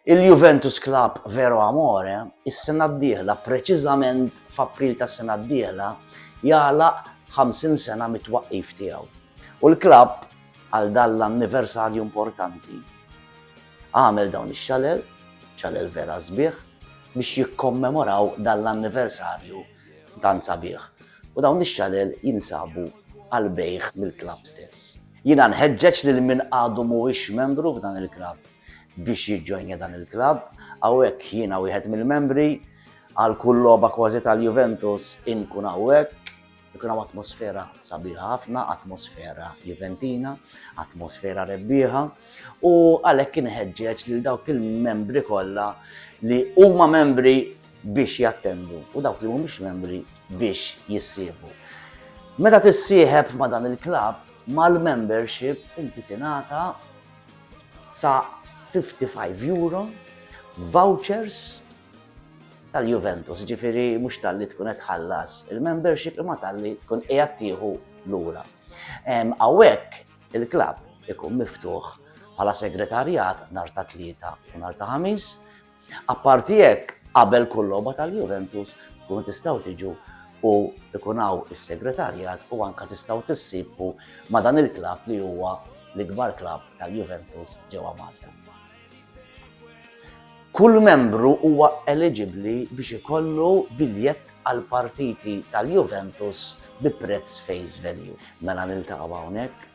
Il-Juventus Club Vero Amore is-sena d-dieħla, preċiżament f'April tas-sena d-dieħla, jagħlaq 50 sena mit-twaqqif tiegħu. U l-klabb, għal dan l-anniversarju importanti, għamel dawn ix-xalel, xalel vera sbieħ, biex jikkommemoraw dan l-anniversarju Dan sabiħ u dawn ix-xalel jinsabu għall-bejgħ mill-klabb stess. Jiena nħeġġeġ lil min għadu mhuwiex membru f'dan il-klabb biex jiġġoinja dan il-klabb, hawnhekk jiena wieħed mill-membri, għal kull logħba kważi tal-Juventus inkun hawnhekk, ikun hawn atmosfera sabiħa ħafna, atmosfera Juventina, atmosfera rebbieħa u għalhekk inħeġġeġ lil dawk il-membri kollha li huma membri biex jattendu u dawk li mhumiex membri biex jissieħbu. Meta tissieħeb ma' dan il-klabb, mal-membership inti tingħata sa 55 euro vouchers tal-Juventus, ġifiri mhux tal-li tkun qed ħallas il-membership imma tal-li tkun qiegħed tieħu lura. Hawnhekk il-klabb ikun miftuħ bħala segretarjat nhar ta' tlieta u nhar ta' ħamis Apparti hekk, qabel kull logħba tal-Juventus tkunu tistgħu tiġu u ikun hawn is-segretarjat u anke tistgħu tissiebu ma' dan il-klabb li huwa l-ikbar klabb tal-Juventus ġewwa Malta. Kull membru huwa eliġibbli biex ikollu biljett għall-partiti tal-Juventus bi prezz face value. Mela niltaqgħu hawnhekk